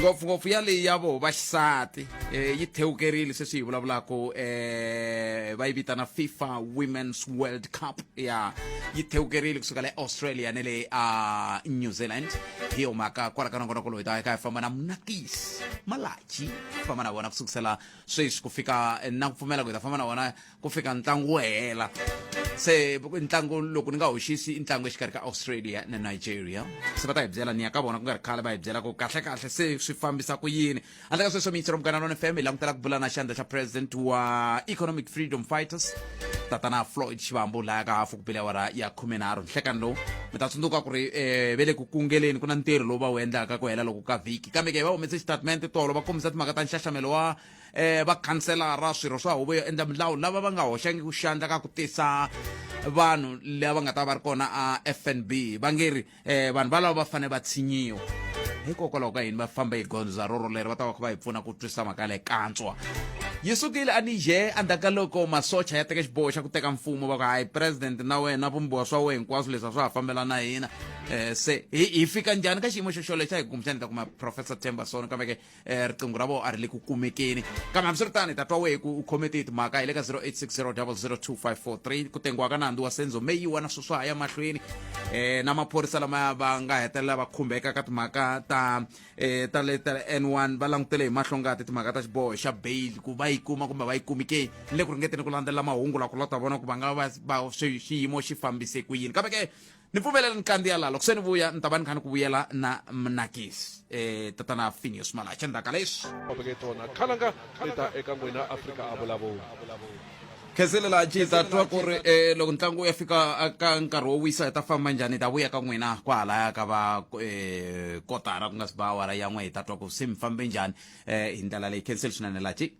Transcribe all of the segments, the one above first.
ngopfungopfu ya leyi ya voho va xisati eh, yi thewukerile sweswi hi vulavulaka eh, va yi vitana fifa women's world cup ya yi thewukerile kusuka le australia ne le a new zealand hi yo mhaka kwala ka nongona koloyi ta ka hi famba na munakisi malachi famba na vona ku sukusela sweswi ku fika eh, na ku pfumela ku hi ta famba na vona ku fika ntlangu wu hela se ntlangu loko ni nga hoxisi i ntlangu exikarhi ka australia na nigeria se va ta hi byela ni ya ka vona ku nga ri khale va hi byela ku kahle kahle se swi fambisa ku yini handle ka sweswo miyitsero mugana lona fm hi langutela ku bula na xandla xa president wa economic freedom fighters tatana floyd xivambu laya ka hafu ku pele awara ya khumenharhu nhlekani lowu mi ta tsundzuka ku ri um ve le ku kungeleni ku na ntirho lowu va wu endlaka ku hela loko ka vhiki kambe ke hi va humese xitatimende tolo va kombisa timhaka ta nxaxamelo wa um vakhanselara swirho swa huvo yo endla milawu lava va nga hoxangi ku xandla ka ku tisa vanhu lava nga ta va ri kona a fnb va nge ri um vanhu valavo va fanele va tshinyiwa hikokwalaho ka yini va famba hi gondza roro leri va ta va kha va hi pfuna ku twisisa mhaka leyi kantswa yi sukile a nije endzhaku ka loko masocha ya teka xiboho xa ku teka mfumo va ku hayi president na wena vumbiwa swa wena hinkwaswo leswi a swa ha fambela na hina um se hi fika njhani ka xiyimo xo xolexo hi kumbexani ta kuma professor temberson kambe ke eh, riqingho ra vona a ri le ku kumekeni kambe hambiswiritano hi ta twa wehe ku u khome tihi timhaka hi le ka 0860002543 ku tengiwa ka nandzu wa senzo meyiwa na sweswa ya mahlweni eh na maphorisa lama va nga hetelela va khumbeka ka timhaka ta eh ta le ta N1 va langutele hi mahlo ngati timhaka ta xiboho xa bail ku va yi kuma kumbe va yi kumi ke ni le ku ringeteni ku landzelela mahungu la ku lota vona ku va nga va va- swi- xiyimo xi fambise ku yini kambe ke ni pfumelela ni kandziya laha loko se ni vuya ni ta va ni kha ni ku vuyela na mnakisi um tatana finius malacha ndzhaka leswi vaveke tona khalanga leta eka n'wina afrika a vulavula kheselela ji ta twa ku ri um loko ntlangu wu ya fika a ka nkarhi wo wisa hi ta famba njhani hi ta vuya ka n'wina kwahalaya ka va um kotara ku nga si ba awara yan'we hi ta twa ku se mi fambe njhani um hi ndlela leyi khenseli swinene laha ji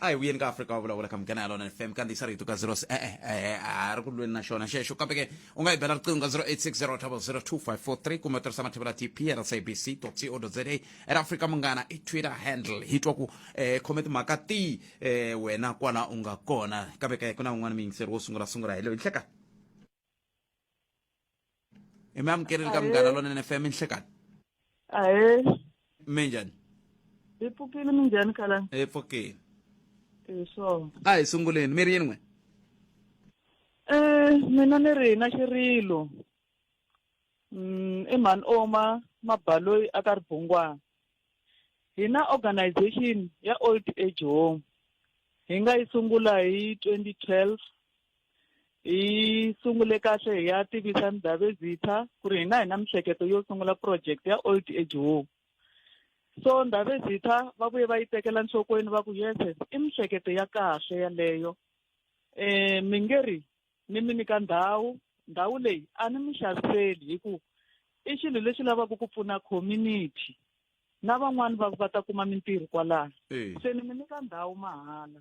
a hi vuyeni ka afrika wa vulavula ka mugana ya lona fm kandziyisa rito ka 0 e-e e-e, a ri ku lweni na xona xexo kambe ke u nga yi bela riqingho ka 0860002543 kumbe u tirhisa mathivela tpl sabc co za era afrika munghana i twitter handle hi twa ku eh, khome timhaka ti eh, wena kwala u nga kona kambe ke ku na un'wana muyingiseri wo sungula sungula hi loyi nhleka imi amukeri lika munghana lonene fm inhlekani ahe mi njhani hi pfukile minjhani khalani hi pfukile hi swona a hi sunguleni mi ri yini n'we um mina ni ri na xirilo um i mhani oma mabaloyi a ka ribungwana Hi na organization ya old age home hi nga yi sungula hi 2012 hi sungule kahle hi ya tivisa Ndabezitha ku ri hina hi na mihleketo yo sungula project ya old age home so Ndabezitha va vuye va yi tekela nhlokweni va ku yes i mihleketo ya kahle yaleyo eh mi nge ri ni mi nyika ndhawu ndhawu leyi a ni mi xaviseli hi ku i xilo lexi lavaka ku pfuna community na van'wani va va ta kuma mintirho kwalano se ni mi nyika ndhawu mahala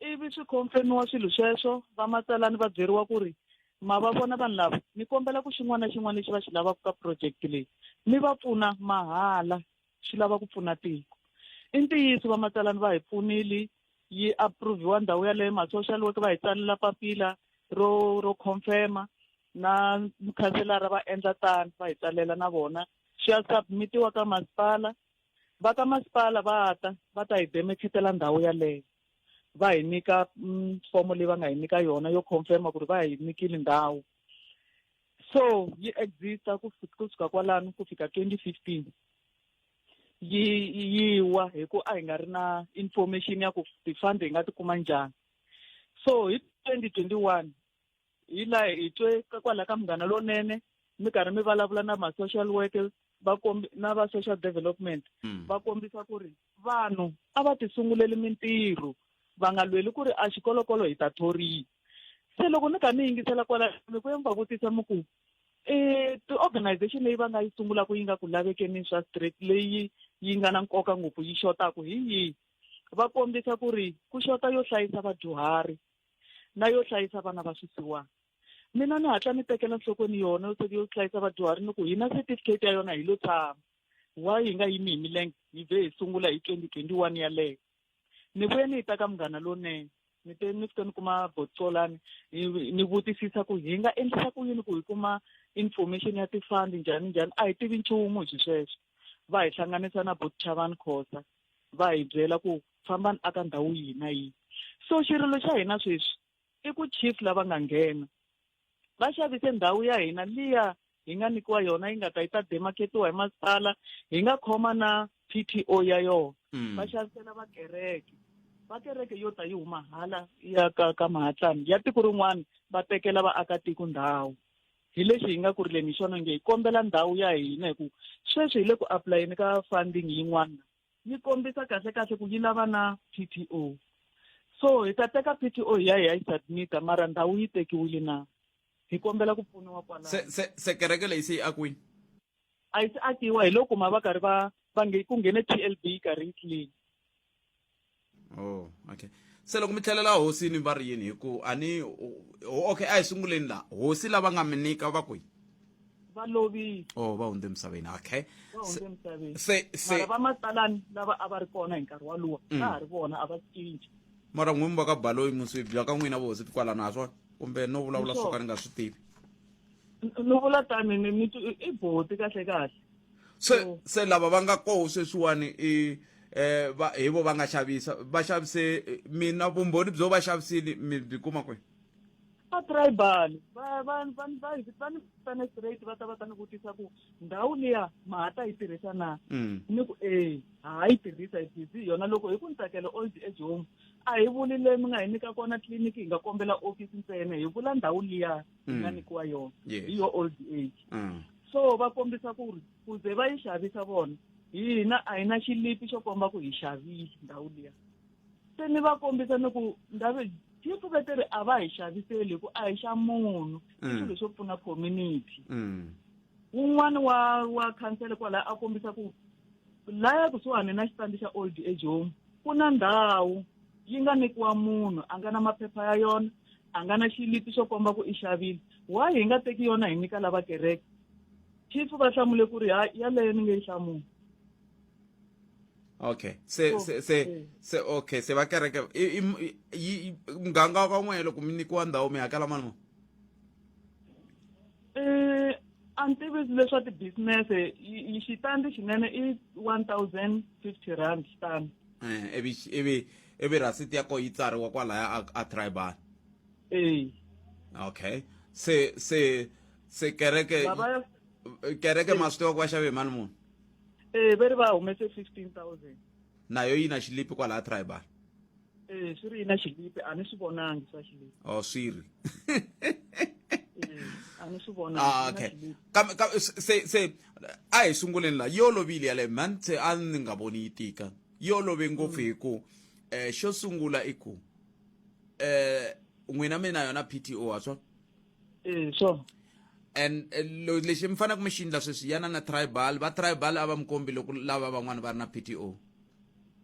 ivi swi khomfemiwa swilo sweswo vamatsalani va byeriwa ku ri ma va vona vanhu lava ni kombela ku xin'wana na xin'wana lexi va xi lavaka ka project leyi mi va pfuna mahala swi lava ku pfuna tiko i ntiyiso vamatsalani va hi pfunile yi approve-iwa ndhawu yaleyo ma-social work va hi tsalela papila ro ro confirma na mukhanselara va endla tano va hi tsalela na vona swi ya submitiwa ka masipala va ka masipala va ta va ta hi demekhetela ndhawu yaleyo va hi nyika mm, fomo leyi va nga hi nyika yona yo confirma ku ri va hi nyikile ndhawu so yi exista ku fi- ku suka kwalano ku fika 2015 yi yi wa hi ku a hi nga ri na information ya ku ti-fund hi nga ti kuma njhani so hi 2021 hi la hi twe ka- kwala ka munghana lonene mi karhi mi vulavula na ma-social worker va kombi na va social development Mm. va kombisa ku ri vanhu a va tisunguleli mintirho va nga lweli ku ri a xikolokolo hi ta thoriwa se loko ni kha ni yingisela kwala mi ku va vutisa mi ku um ti-organization leyi va nga yi sungulaka yi nga ku lavekeni swa straight leyi yi nga na nkoka ngopfu yi xotaku hi yihi va kombisa ku ri ku xota yo hlayisa vadyuhari na yo hlayisa vana va swisiwana mina ni hatla ni tekela nhlokweni yona yo yo hlayisa vadyuhari ni ku hina certificate ya yona hi lo tshama wa hi nga yimi hi milenge hi vhe hi sungula hi twenty twenty one yaleyo ni vuye ni yi ta ka munghana lonene ni te ni fike ni kuma botsolani ni vutisisa ku hi nga endlisa ku yini ku hi kuma information ya tifandi njhani njhani a hi tivi nchumu hi swisweswo va hi hlanganisa na bot chavani khosa va hi byela ku fambani aka ndhawu yihi na yihi so xirilo xa hina sweswi i ku chief lava nga nghena va xavise ndhawu ya hina liya hi nga nyikiwa yona yi nga ta yi ta demarketiwa hi masipala hi nga khoma na p t o ya yona hmm. va xavisela vakereke va kereke yo ta yi huma hala ya ka ka mahatlani ya tiko rin'wana va tekela vaakatiko ndhawu hi lexi hi nga ku rileni hi xona nge hi kombela ndhawu ya hina hi ku sweswi hi le ku apulayeni ka funding yin'wana yi kombisa kahle kahle ku yi lava na p t o so hi ta teka p t o hi ya hi ya yi submita mara ndhawu yi tekiwile na hi kombela ku pfuniwa kwalaho se se se kereke leyi se yi akiwile a yi se akiwa hi loko ma va karhi va va nge ku nghene t l b karhi yi clean oh okay se loko mi tlhelela hosini va ri yini hi ku a ni okay a hi sunguleni laha hosi lava nga mi nyika va kwihi va lovile oh va hundze emisaveni okay va hundze emisaveni se se va matsalani lava a va ri kona hi nkarhi walowo mm. va ha ri vona a va cinci mara n'wini va ka baloyi muswi bya ka n'wina vohosi tikwalana ha swona kumbe no vulavula swo ka ni nga swi tivi no vula tani ni ni i boti kahle kahle se se lava va nga koho sweswiwani i eh va hi vo va nga xavisa va xavise eh, mina vumbhoni byo va xavisile mi byi kuma kwihi va tribal va va va va va ni fane straight va ta va ta ni vutisa ku ndhawu liya ma ha ta yi tirhisa na mm. ni ku e ha yi tirhisa hi busy yona loko hi ku ni tsakela old age home a hi vuli leyi mi nga hi nyika kona tliliniki hi nga kombela office ntsena hi vula ndhawu liya yi nga mm. nyikiwa yona hi yo old age mm. so va kombisa ku ri ku ze va yi xavisa vona hina a hi na xilipi xo komba ku hi xavile ndhawu liya se ni va kombisa ni ku ndhawu yi pfukete ri a va hi xaviseli hi ku a hi xa munhu i mm. swilo swo pfuna community wun'wana wa wa khansele kwalaya a kombisa ku laya kusuhani na xitandi xa old age home ku na ndhawu yi nga nyikiwa munhu a nga na maphepha ya yona a nga na xilipi xo komba ku i xavile why hi nga teki yona hi nyika lava kereke chief va hlamule ku ri hayi yaleyo ni nge yi hlamuli okay se oh, se se eh. se okay se va kereke muganga wa ka n'wehe loko mi nyikiwa ndhawu mi hakela mali muni um a ni tivisi leswa ti-business-e xitandi xinene i one thousand fifty rand xitandi eh, ivi ivi ivi rasiti ya ko yi tsariwa kwalaya a, a tribal ee okay se se se kereke Baba- kereke ma swi tiva ku va xave hi mali muni ee va ri va humese fifteen thousand nayo yi na xilipi kwalaya tribal ee swi ri yi na xilipi a ni swi vonangi swa xilipi o Oh, swi ri ee a ni swi vonangi Ah, swi na okay xilipi. Kam- kam- se se a hi sunguleni la yo lovile yaleyo man se a ni nga voni yi tika yo love ngopfu hi ku eh xo sungula i ku eh n'wina mi na yona pto ha swa Eh, sure. and eh, lo- lexi mi faneleke mi xi endla sweswi yana na tribal va tribal a va mi kombi loko lava van'wana va ri na pto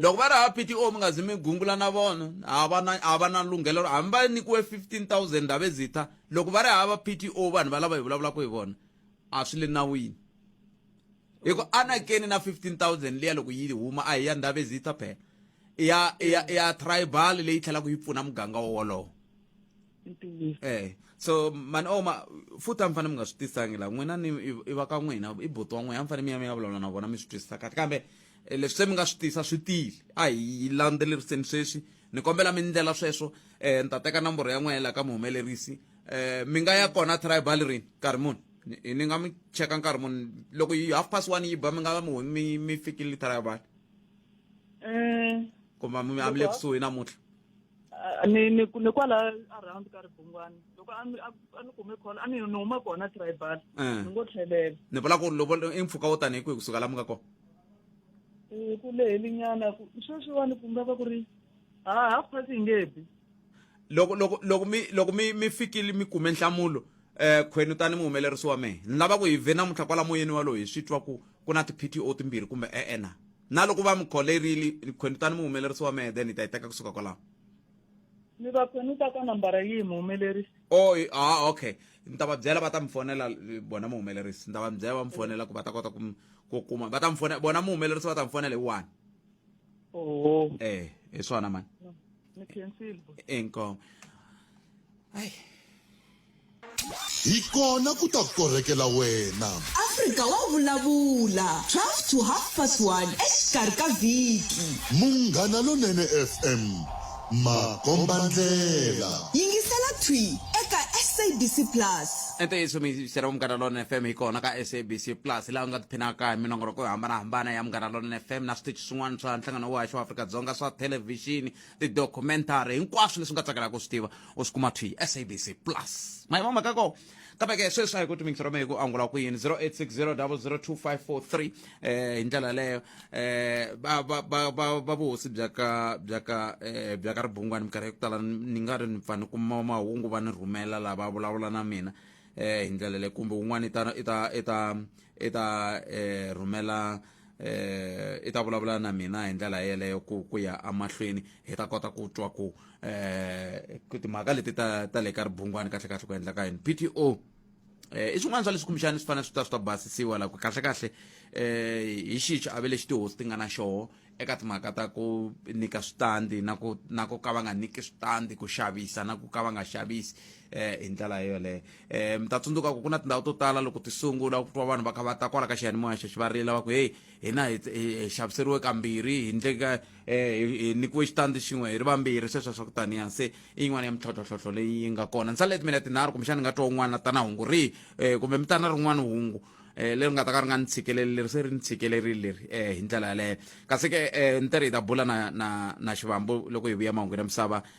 loko va ri hava p t o mi nga zi mi gungula na vona a va na a va na lunghelo hambi va nyikiwe 15000 ndhavu ezitha loko va ri hava p t o vanhu va lava hi vulavulaka hi vona a swi le nawini hi ku anakeni na 15000 liya loko yi huma a hi ya ndhavu ezitha phela i ya i ya i ya tribal leyi tlhelaka yi pfuna muganga wowolowo ntiyiso eh so mani oma oh, futhi a mi fanele mi nga swi tisangi laha n'wina ni i va ka n'wina i buti wa n'wina a mi fanele mi ya mi ya vulavula na vona mi swi twisisa kahle kambe eh, leswi se mi nga swi tisa swi tile a hi landzeleriseni sweswi ni kombela mi ndlela sweswo um ni ta teka nomboro ya n'wina laha ka muhumelerisi um mi nga ya kona tribal rini nkarhi muni ni nga mi cheka nkarhi muni loko yi half past one yi ba mi nga mi mi fikile tribal um kumbe mi amile kusuhi namuntlha Ah, ni ni ni kwala around ka ribungwani loko a ni a ni kume khona a ni ni huma kona tribal eh. ni ngo tlhelela ni vula ku loko i mpfhuka wo tanihi kwihi kusuka la mi nga kona eh, ku lehelinyana ku sweswiwani ku nga va ku ri ha ah, half past yi nge bi loko loko loko mi loko mi mi fikile mi kume nhlamulo eh khweni tani muhumelerisi wa mehe ni lava ku hi ve namuntlha kwala moyeni walowo hi swi twa ku ku na ti-pto timbirhi kumbe e-e na na loko va mi kholerile khweni tani muhumelerisi wa mehe then hi ta yi teka kusuka kwalaho ni va khweni ta ka nambara yihi muhumelerisi o ah okay ni ta va byela va ta mi fonela bona muhumelerisi ni ta va mi byela va mi fonela ku va ta kota ku kuma va ta mi fonela bona muhumelerisi va ta mi fonela hi one oho eh hi swona mani ni khensile inkomo ayi Hi kona ku ta korhekela wena. Afrika wa vulavula, 12 to half past 1 exikarhi ka vhiki. Munghana Lonene FM, makombandlela. Yingisela thwi eka SABC Plus. ntiyiso miyisela munghana lona fm hi kona ka sabc plus laha u nga tiphinaka hi minongoloko yo hambanahambana ya munghana lona fm na switichi swin'wana swa nhlangano wa haxa wa afrika-dzonga swa thelevhixini tidocumentary hinkwaswo leswi nga tsakelaka ku swi tiva u swi kuma twi sabc plus mayima mhaka ko kambe ke sweswi a hi ku timingisa rome hi ku angula ku yini 0860002543 eh hi ndlela leyo eh va va va va- va vuhosi bya ka bya ka eh, bya ka ribungwani minkarhi ya ku tala ni nga ri ni pfa ni kuma mahungu va ni rhumela lava vulavula na mina eh hi ndlela leyo kumbe un'wana i ta i ta i ta i ta eh rhumela eh i ta vulavula na mina hi ndlela yeleyo ku ku ya amahlweni hi ta kota ku twa ku eh timhaka leti ta ta le ka ribungwani kahle kahle ku endla ka yini PTO eh i swin'wana swa leswi kumbexana swi fanele swi ta swi ta basisiwa la ku kahle kahle eh hi xihi xiave lexi tihosi ti nga na xoho eka timhaka ta ku nyika switandi na ku na ku ka va nga nyiki switandi ku xavisa na ku ka va nga xavisi eh hi ndlela yoleyo eh mi ta tsundzuka ku ku na tindhawu to tala loko ti sungula ku twa vanhu va kha va ta kwala ka xiyanimoya xexi va rila va ku heyi hina hi hi- hi xaviseriwe kambirhi hi ndleka eh hi- hi nyikiwe xitandi xin'we hi ri vambirhi sweswo swa ku taniya se i yin'wana ya mintlhotlhohlohlo leyi yi nga kona ntsale timina tinharhu kumbexana ni nga twa un'wana tana hungu rihi eh kumbe mi tana rin'wana hungu eh leri nga ta ka ri nga ni tshikeleli leri se ri ni tshikelerile leri eh hi ndlela yaleyo kasi ke eh ni te ri hi ta bula na na na xivambo loko hi vuya mahungwini ya misava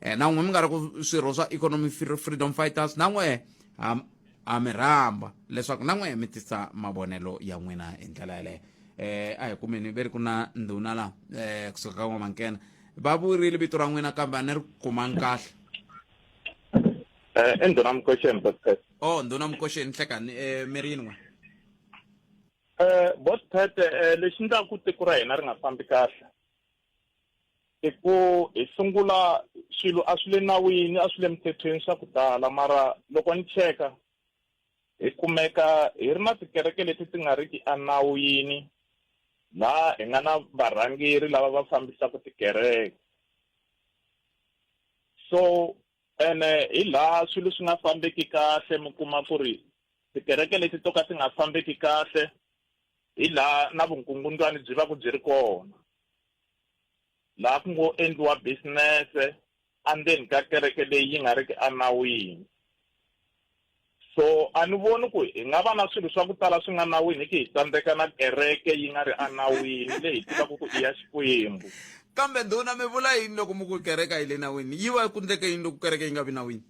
eh, na n'we mi nga ri ku swirho swa economy freedom fighters na n'we ha mi rhamba leswaku na n'we mi tisa mavonelo ya n'wina hi ndlela yeleyo eh a hi kumeni ve ri ku na ndhuna la eh kusuka ka n'wamankena va vurile vito ra n'wina kambe a ni ri kumanga kahle eh i ndhuna mukoxeni botpet o oh, ndhuna mukoxeni nhlekani eh mi ri yin'we eh botpet eh lexi ndlaku tiko ra hina ri nga fambi kahle i ku hi sungula swilo a swi le nawini a swi le mithethweni swa ku tala mara loko ni cheka hi kumeka hi ri na tikereke leti ti nga ri ki enawini laha hi nga na varhangeri lava va fambisaka tikereke so ene hi laha swilo swi nga fambeki kahle mi kuma ku ri tikereke leti to ka ti nga fambeki kahle hi laha na vunkungundwani byi va ku byi ri kona laha ku ngo endliwa business-e andzeni ka kereke leyi yi nga riki enawini so a ni voni ku hi nga va na swilo swa ku tala swi nga nawini hi ki hi tsandzeka na kereke yi nga ri enawini leyi hi tivaka ku i ya xikwembu kambe ndhuna mi vula yini loko mi ku kereke a yi le nawini yi va ku ndleke yini loko kereke yi nga vi nawini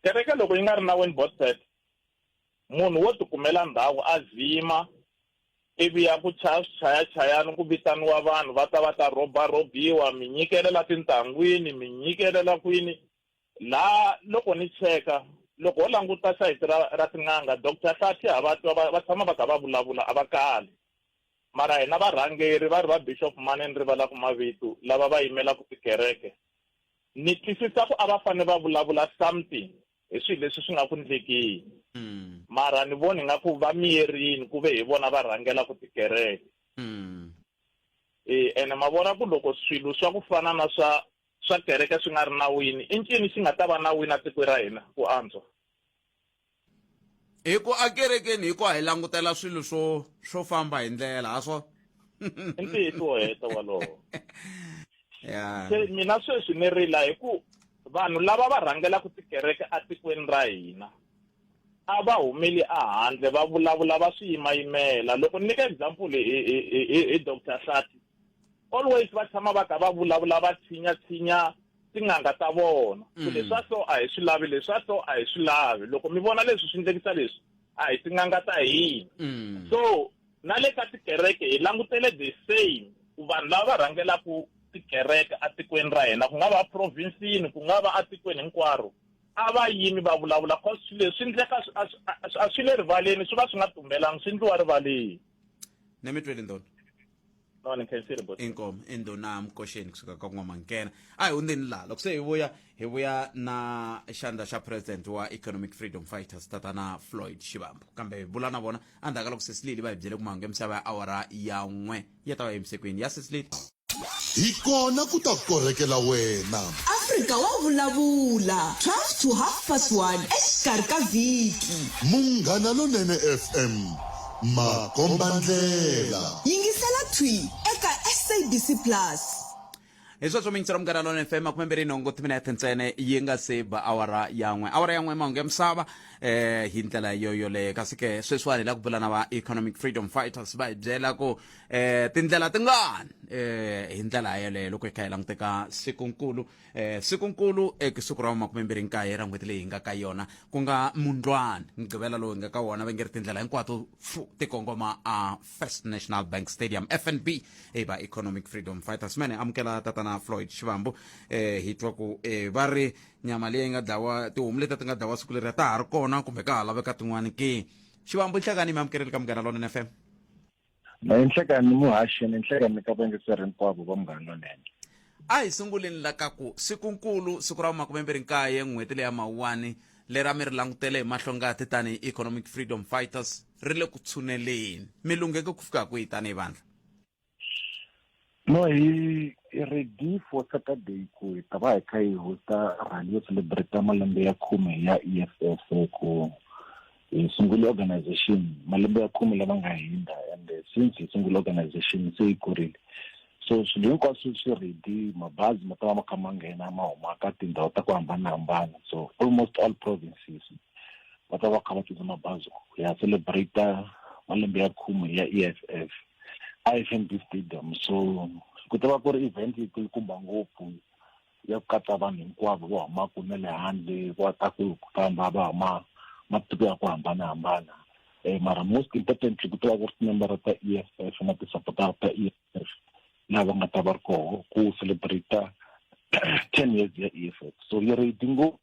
kereke loko yi nga ri nawini botset Munhu wo tikumela ndhawu a zima, ivi a ku chaya swichayachayani ku vitaniwa vanhu va ta va ta rhobarhobiwa, mi nyikelela tintangwini, mi nyikelela kwini. Laha loko ni cheka, loko ho languta sayiti ra ra tin'anga, Doctor Hlathe ha va twa va va tshama va kha va vulavula, a va kali. Mara hina varhangeri va ri va Bishop Mane ni rivala ku mavito, lava va yimelaka tikereke, ni twisisa ku a va fane va vulavula something. hi swilo leswi swi nga ku ndlekini mm. mara ni voni nga ku va miyerini ku ve hi vona va rhangela ku tikereke mm. e ene ma vona ku loko swilo swa ku fana na swa swa kereke swi nga ri nawini i ncini xi nga ta va nawini a tikweni ra hina ku antswa hi ku akerekeni hi ku hi langutela swilo swo swo famba hi ndlela ha swona i ntiyiso heta walowo ya se mina sweswi ni rila hi ku Vanhu lava va rhangelaka tikereke atikweni ra hina a va humeli ahandle va vulavula va swi yimayimela loko ni nyika example hi, hi, hi, hi dr hlati always va tshama va kha va vulavula va tshinya tshinya tin'anga ta vona ku mm. leswa so a hi swi lavi leswa so a hi swi lavi loko mi vona leswi swi ndlekisa leswi a hi tin'anga ta hina mm. so Na le ka tikereke hi langutele the same ku vanhu lava va rhangelaka tikereke atikweni ra hina ku nga va provinsini ku nga va atikweni hinkwaro a va yimi va vulavula cause swi leswi swi ndleka a swi le rivaleni swi va swi nga tumbelangi swi ndliwa rivaleni ne mi twele ndona no ni khensile bo inkomo indona mkosheni kusuka ka n'wamankena a hi hundzeni laha loko se hi vuya hi vuya na xandla xa president wa economic freedom fighters tatana floyd xivambo kambe hi bula na vona endzhaku ka loko sesilili va hi byele ku mahungu ya misava ya awara ya n'we ya ta va emisekweni ya sesilili hi kona ku ta korhekela wena afrika wa vulavula 12 to half past 1 exikarhi ka vhiki munghana lonene fm makombandlela. Yingisela Thwi eka SABC Plus. hi sweswo mintsu ra munghana lona fm makume mbirhi nhungu timinete ntsene yi nga se ba awara yan'we awara yan'we mahungu ya misava eh hi ndlela yo yoleyo kasi ke sweswiwani hi la ku bula na va economic freedom fighters va hi byela ku eh tindlela tingani eh hi ndlela yoleyo loko hi kha hi languteka sikunkulu eh sikunkulu eka siku ra makume mbirhi nkaye ra n'hweti leyi hi nga ka yona ku nga mundlwana mugqivela lowu hi nga ka wona va nge ri tindlela hinkwato fu tikongoma a first national bank stadium fnb i va economic freedom fighters mene amukela tatana floyd xivambu eh hi twa ku eh va ri nyama leyi nga dlawa tihomu leti ti nga dlawa siku leri ta ha ri kona kumbe ka ha laveka tin'wani ke xivambu nhlekani mi amukeleli ka munghana lonene fm Nhlekanhi muhaxi ni nhlekanhi ka vayingiseri hinkwavo va Munghana Lonene. A hi sunguleni la ka ku siku-nkulu, siku ra vu-makume-mbirhi-nkaye, n'hweti leya Mawuwani, leri a mi ri langutele hi mahlo-ngati tanihi economic freedom fighters, ri le ku tshuneleni. Mi lungheke ku fika kwihi tanihi vandlha? no hi hi ready for saturday ku hi ta va hi kha hi hosta rally yo celebrate malembe ya khume ya eff ku hi sungule organization malembe ya khume lama nga hundza and since hi sungule organization se yi kurile so swilo hinkwaswo swi ready mabazi ma ta va ma kha ma nghena ma huma ka tindhawu ta ku hambanahambana so almost all provinces va ta va kha va tisa mabazi ku ya celebrate malembe ya khume ya eff ifmb stadium so ku ta va ku ri event yi kulukumba ngopfu ya ku katsa vanhu hinkwavo va humaka na le handle va ta ku famba va huma matiko ya ku hambanahambana um mara most importantly ku ta va ku ri timembara ta e f f na tisapotara ta e f f laha va nga ta va ri koho ku celebrate ten years ya e f f so yi redi ngopfu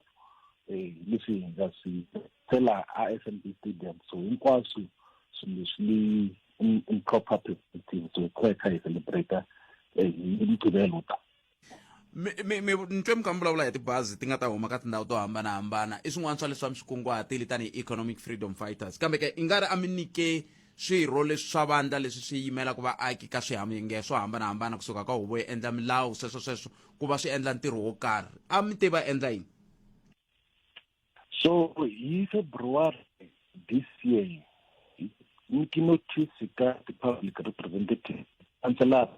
um leswi hi nga swi tsela a f m b stadium so hinkwaswo swilo leswi um, um proper perspective so qho xa icelebrata eh, umgqibelo ta nto mi kha mi vulavula hi tibazi ti nga ta huma ka tindhawu to hambanahambana i swin'wana swa leswi va mi swi kunguhatile tanihi economic freedom fighters kambe ke i nga ri a mi nyike swirho leswi swa vandla leswi swi yimelaka vaaki ka swihamenge swo hambanahambana kusuka ka huvo yi endla milawu sweswo sweswo ku va swi endla ntirho wo karhi a mi te va endla yini so hi february this year nyiki notice ka ti-public representative kanselara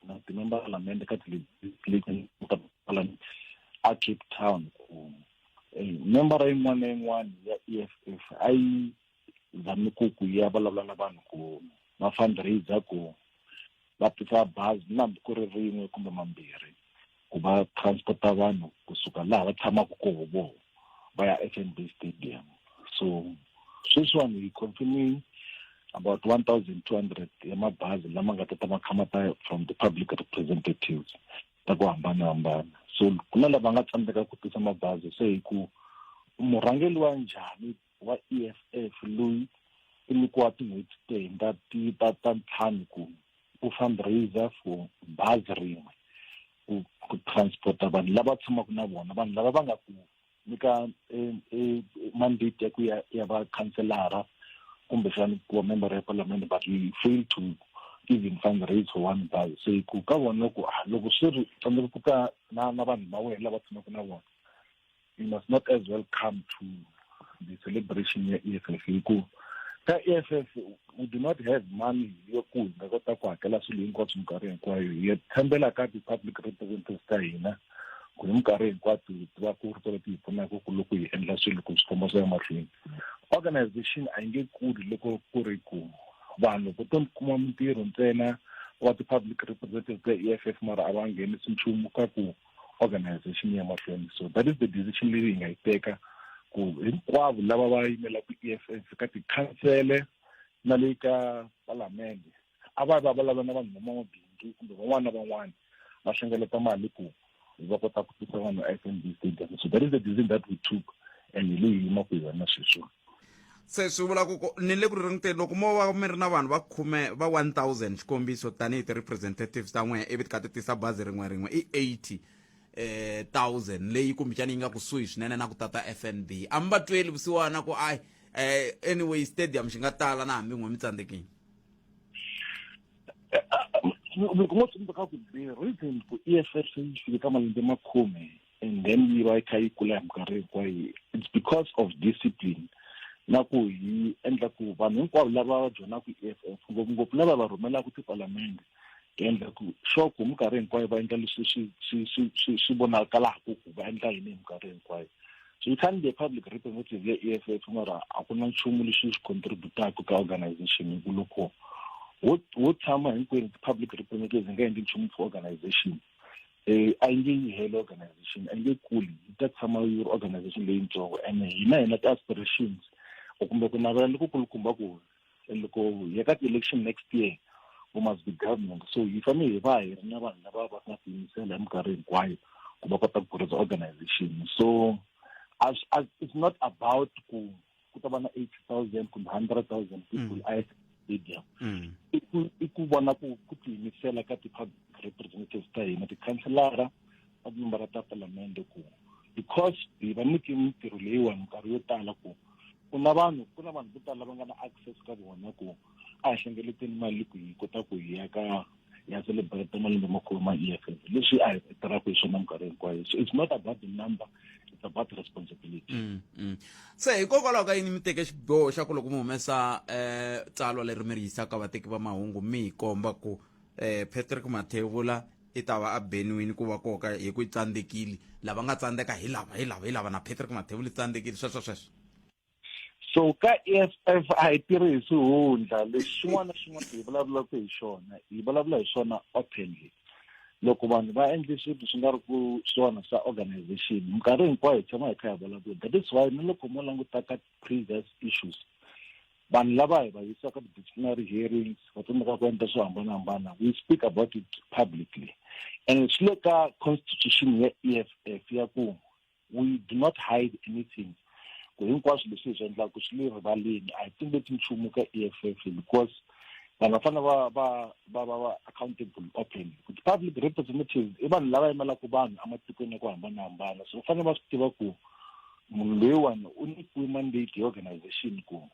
na timemba palamende ka tiparlament a cape town ku eh, membara yin'wana na yin'wana ya e f f a yi zami ku ku ya vulavula na vanhu ku va fundraiser ku va tisa bazi na hambi ku ri rin'we kumbe mambirhi ku va transporta vanhu kusuka laha va tshamaka koho voho va ya FNB stadium so sweswiwani hi confirming about 1200 ya mabazi lama nga ta ta ma kha ma ta from the public representatives ta ku hambanahambana so ku na lava nga tsandzeka ku tisa mabazi se hi ku murhangeli wa njhani wa EFF loyi u nyikiwa tin'hweti to hundza ti ta ta ntlhanu ku ku fundraiser for bazi rin'we ku ku transporta vanhu lava tshamaka na vona vanhu lava va nga ku nyika eh, eh, mandate ya ku ya ya va khanselara kumbexani ku va member ya palamende but we fail to even fundraise for one bus se ku ka vona ku ah, loko swi ri tsandzeka ku ta na na vanhu va wena lava tshamaka na vona you must not as well come to the celebration ya e f f hikuva ka e f f we do not have money yo ku hi nga kota ku hakela swilo hinkwaswo minkarhi hinkwayo hi tshembela ka ti-public representatives ta hina ku hi minkarhi hinkwato hi tiva ku ri tolo ti hi pfunaka ku loko hi endla swilo ku swi komba swa emahlweni organization a yi nge kuli loko ku ri ku vanhu vo to kuma mintirho ntsena wa ti-public representatives ta e f f mara a va nghenisi nchumu ka ku organization yi ya mahlweni so that is the decision leyi hi nga yi teka ku hinkwavo lava va yimelaka e f f ka tikhansele na le ka palamende a va va vulavula na vanhu vamabindzu kumbe van'wana na van'wana va hlengeleta mali ku va kota ku tisa vanhu f n b stadium so that is the decision that we took and hi leyi yimaku hi yona sweswiwa se swi vula ku ni le ku ri ringuteni loko mo va mi ri na vanhu va khume va 1000 xikombiso tanihi ti-representatives ta n'wehe ivi ti kha ti tisa bazi rin'we rin'we i 80 eh 1000 leyi kumbexana yi nga kusuhi swinene na ku tata fnb a mi va tweli vusiwana ku ayi eh anyway stadium xi nga tala na hambi n'we mi tsandzekile eh, ah, loko mo tsundzuka ku the reason ku e f s yi fike ka malembe makhume and then yi va yi kha yi kula hi minkarhi hinkwayo it's because of discipline na ku hi endla ku vanhu hinkwavo lava va joinaka i-f e f ngopfungopfu lava va rhumelaka tipalamende hi endla ku sure ku minkarhi hinkwayo va endla leswi swi swi swi swi swi vonakalaka ku va endla yini hi minkarhi hinkwayo so you can't be a public representative ya e f f mara a ku na nchumu lexi xi contributaka ka organization hi ku loko wo tshama hinkwenu ti-public representatives hi nga endli nchumu for organization eh, a yi nge yi heli organization a yi nge kuli yi ta tshama yi ri organization leyintsongo and hina hina ti-aspirations or kumbe ku navela loko kulukumba ku loko hi ka ti-election next year we must be government so hi fanele hi va hi ri na vanhu lava va nga tiyimisela hi minkarhi hinkwayo ku va kota ku kurisa organization so as, as it's not about ku ku ta va na 8000 kumbe 100000 people mm. at stadium mm. i ku i ku vona ku ku tiyimisela ka ti-public representatives ta hina tikhanselara ta tinombara ta palamende ku because hi va nyike mintirho leyiwani minkarhi yo tala ku ku na vanhu ku na vanhu vo tala va nga na access ka vona ku a hi hlengeleteni mali ku hi kota ku hi ya ka ya celebrate malembe makulu ma EFF leswi a hi tirhaka hi swona minkarhi hinkwayo so it's not about the number it's about the responsibility mm, mm. se hikokwalaho ka yini mi teke xiboho xa ku loko mi humesa eh tsalwa leri mi ri yisaka vateki va mahungu mi hi komba ku eh Patrick Mathevula i ta va a benwini ku va koka hi ku tsandzekile lava nga tsandzeka hi lava hi lava hi lava na Patrick Mathevula i tsandzekile sweswo sweswo so ka EFF a hi tirhi hi swihundla leswi xin'wana na xin'wana hi vulavulaka hi xona hi vulavula hi swona openly loko vanhu va endle swilo swi nga ri ku swona swa organization minkarhi hinkwayo hi tshama hi kha hi vulavula that is why ni loko mo languta ka previous issues vanhu lava hi va yisaka ti-disciplinary hearings va tsandzeka ku endla swo hambanahambana we speak about it publicly and swi le ka constitution ya e f f ya ku we do not hide anything ku hinkwaswo leswi hi swi endlaka swi le rivaleni a hi tumbeti nchumu ka e f f because vanhu va fanele va va va va va accountable open kuti public representatives i vanhu lava yimelaka vanhu ematikweni ya ku hambanahambana so va fanele va swi tiva ku munhu loyiwani u nyikiwe mandate hi organization ku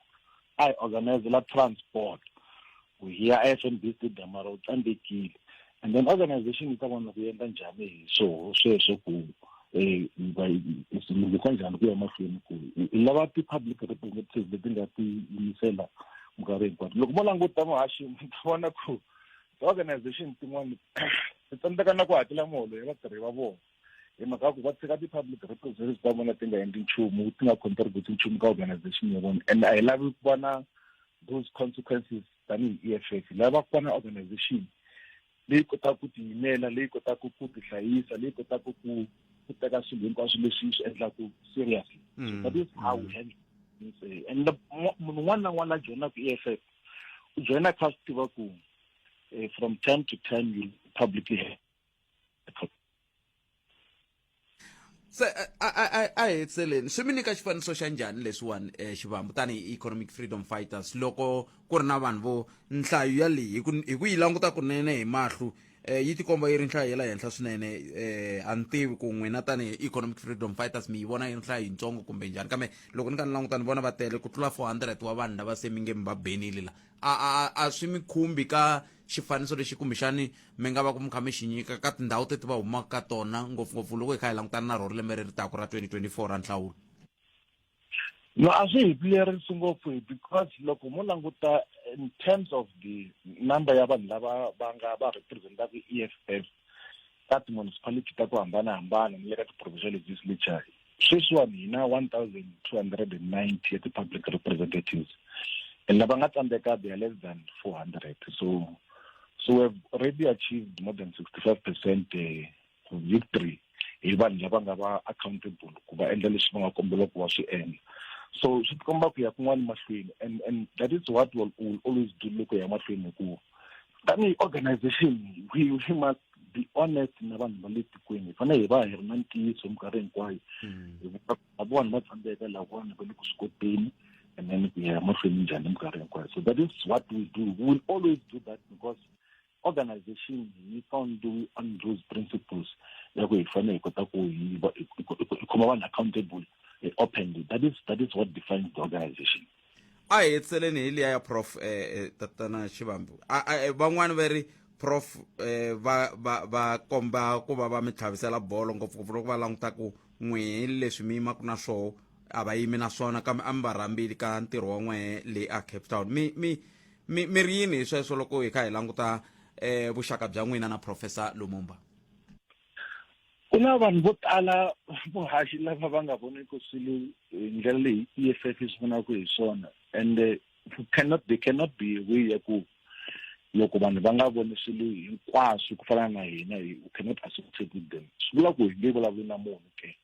a hi organizela transport ku hiya a fnb stadium mara u tsandzekile and then organization yi ta vona ku endla njhani hi swoho sweswo ku um swi lunghisa njhani ku ya mahlweni ku i lava ti-public representatives leti nga ti yimisela minkarhi hinkwato loko mo languta muhaxi mi ta vona ku ti-organization tin'wana ti tsandzeka na ku hakela muholo ya vatirhi va vona hi mhaka ya ku va tshika ti-public repositories ta vona ti nga endli nchumu ti nga contribute nchumu ka organization ya vona and a hi lavi ku va na those consequences tanihi e f f lava ku va na organization leyi kotaka ku tiyimela leyi kotaka ku tihlayisa leyi kotaka ku ku teka swilo hinkwaswo leswi swi endlaku seriously so mm. that is how we handle eh, and munhu un'wana na un'wana a joyinaku e f f u joyina kha swi tiva ku eh, from time to time you publicly se eh, a a a hetseleni swi mi nyika xifaniso xa njhani leswiwani um xivambu tanihi economic freedom fighters loko ku ri na vanhu vo nhlayo ya leyi hi ku yi languta kunene hi mahlu um eh, yi tikomba yi ri nhlayo ya la henhla swinene um a ni tivi ku n'wina tanihi economic freedom fighters mi yi vona yi ri nhlayo yitsongo kumbe njhani kambe loko ni ka ni languta ni vona va tele ku tlula four hundred wa vanhu lava se mi nge mi va benile la a a a swi mi khumbi ka um xifaniso lexi kumbexani mi nga va ku mi kha mi xi nyika ka tindhawu teti va humaka ka tona ngopfungopfu loko hi kha hi langutana na rona lembe ri ri taku ra 2024 ra nhlawulo no a swi hi pilerisi ngopfu hi because loko mo languta in terms of the number ya vanhu lava va nga va representaka i-e f f ka ti-municipality ta ku hambanahambana ni le ka ti-provincial legislature sweswiwani hi na one thousand two hundred and ninety ya ti-public representatives and lava nga tsandzeka they are less than four hundred so so we have already achieved more than sixty five percent eh, victory hi vanhu lava nga va accountable ku va endla leswi va nga kombela ku va swi endla so swi tikomba ku ya kun'wana mahlweni and and that is what will, will always do loko ya mahlweni hikuva tanihi organization we, we must be honest na vanhu va le tikweni hi fanele hi va hi ri na ntiyiso minkarhi hinkwayo hmm. hikuva vona va tsandzeka lavona va le ku swi koteni and then ku ya mahlweni njhani minkarhi hinkwayo so that is what we do we will always do that because organization yi founded on those principles ya ku hi fanele hi kota ku hi khoma vanhu accountable eh, openly that is that is what defines the organization a hi hetiseleni hi liya ya prof eh, eh, tatana xivambu A- a- eh, van'wani va ri prof eh, va va va komba ku va va mi tlhavisela bolo ngopfungopfu loko va languta ku n'wehe leswi mi yimaku na swoho a va yimi na swona kambe a mi va rhambili ka ntirho wa n'wehe le a cape town mi mi mi mi ri yini hi sweswo loko hi kha hi languta eh, vuxaka bya n'wina na professor lumumba ku na vanhu vo tala vuhaxi lava va nga voniki swilo hi ndlela leyi e f f yi swi vonaka hi swona and eh, cannot they cannot be aware ku loko vanhu va nga voni swilo hinkwaswo ku fana na hina hi u cannot associate with them swi vula ku hi nge vulavuli na munhu ke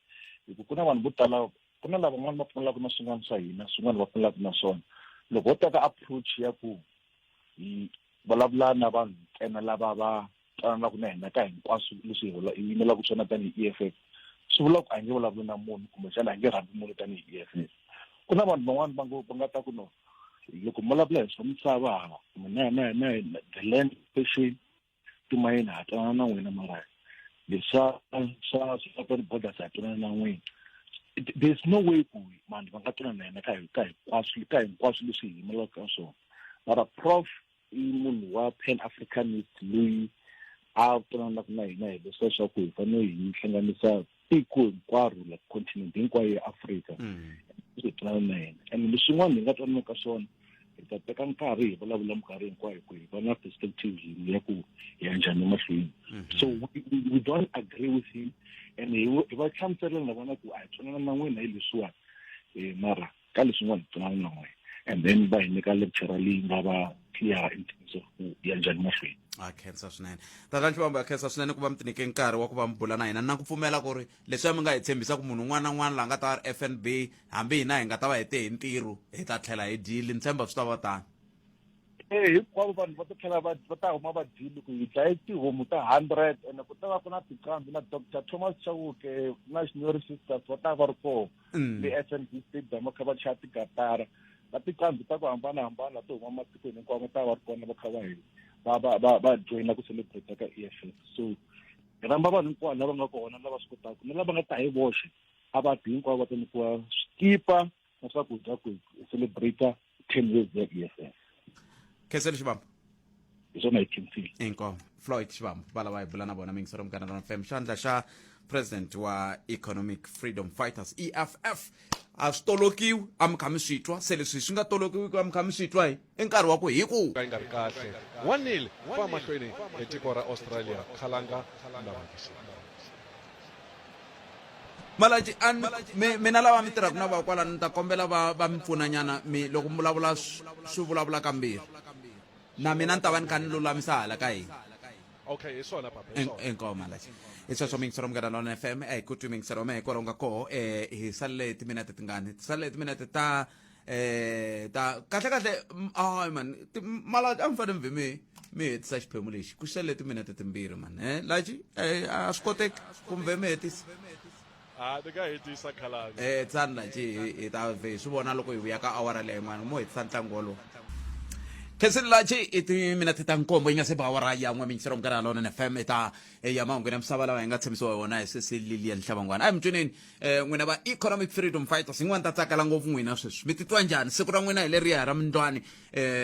hi ku ku na vanhu vo tala ku na lava van'wana va pfumelaka na swin'wana swa hina swin'wana va pfumelaka na swona loko ho teka approach ya ku hi vulavula na vanhu ntsena lava va twanana ku na hina ka hinkwaswo leswi hi yimelaka swona tanihi e f f swi vula ku a nge vulavuli na munhu kumbexana a nge rhambi munhu tanihi e f f ku na vanhu van'wana va ngo va nga ta ku no loko mi vulavula hi swa misava hava mina hina hina hina the land station timayini ha twanana na n'wina mara leswa swa swa borders ha twanana na n'wina there's no way ku vanhu va nga twanana na hina ka hinkwaswo ka hinkwaswo leswi hi yimelaka ka swona mara prof i munhu wa pan africanist loyi a pfulanaka na hina hi leswi leswaku hi fanele hi hlanganisa tiko hinkwaro like continent hinkwayo ya afrika mm. hi pfulana na yena and leswin'wana hi nga twanana ka swona hi ta teka nkarhi hi vulavula minkarhi hinkwayo ku hi va na perspective yini ya ku hi ya njhani emahlweni mm-hmm. so we don't agree with him and hi va hlamuselela na vona ku a hi twanana na n'wina hi leswiwani um mara ka leswi nga hi pfunana na n'we and then va hi nyika lecture leyi nga va clear in terms of ku ya njhani mahlweni a khensa swinene tata nhlivambo ya khensa swinene ku va mi tinike nkarhi wa ku va mi bula na hina na ku pfumela ku ri leswi a mi nga hi tshembisa ku munhu un'wana na un'wana laha nga ta va ri fnb hambi hina hi nga ta va hete hi ntirho hi ta tlhela hi dyile ni tshemba swi ta va tani e hinkwavo vanhu va ta tlhela va va ta huma va dyile ku hi dlaye tihomu ta hundred ene ku ta va ku na tiqambi na doctor thomas chauke na xinyori sisters va ta va ri kona mm. le fnb stadium va kha va chaya tigatara na tiqambi ta ku hambanahambana to huma matikweni hinkwawo ta va ri kona va kha va hi va va va va joyina ku celebrate ka e f f so hi ramba vanhu hinkwavo lava nga kona lava swi kotaka ni lava nga ta hi voxe a va ti hinkwavo va ta nyikiwa swikipa na swakudya ku hi celebrate ten years ze-ess khesele xivambo hi swona hi khinsile inkomo floyd xivambo va lava hi bula na vona mingisero mugana rona fam xandla xa president wa economic freedom fighters eff a swi tolokiwi a mi kha mi swi twa se leswi swi nga tolokiwiki a mi kha mi swi twa hi i nkarhi wa ku hi ku ka yi nga ri kahle wanile fa mahlweni hi tiko ra australia khalanga na malaji a mi mina lava mi tirhaka na va kwalani ni ta kombela va va mi pfunanyana mi loko mi vulavula swi vulavula kambirhi na mina ni ta va ni kha ni lulamisa hala ka hina okay hi swona papa inkomo malaji hi sweswo mi yingisela munghana lona f m a hi ku twi mi yingisela ma hi kwalaho nga koho um hi salele timinete tingani ti salele timinete ta eh ta kahle kahle ay man mala a mi fane mi vhe mi mi hetisa xiphemu lexi ku xele timinete timbirhi man e laji a swi koteki ku mi vhe mi hetisa a ti nga hetisa khalani eh tsani laji hi ta vhe hi swi vona loko hi vuya ka awara leyi n'wana mo hetisa ntlangu wolowo khesililachi i timinete ta nkombo yi nga se ba awara ya n'we minyisero minkarhi ya lona nfm i ta ya mahungu ya misava lawa hi nga tshemisiwa hi wona hi sesililia nhlabangwana a hi mi tweneni um n'wina va economic freedom fighters yin'wana ni ta tsakela ngopfu n'wina sweswi mi titwa njhani siku ra n'wina hi leriya ra mindlwani um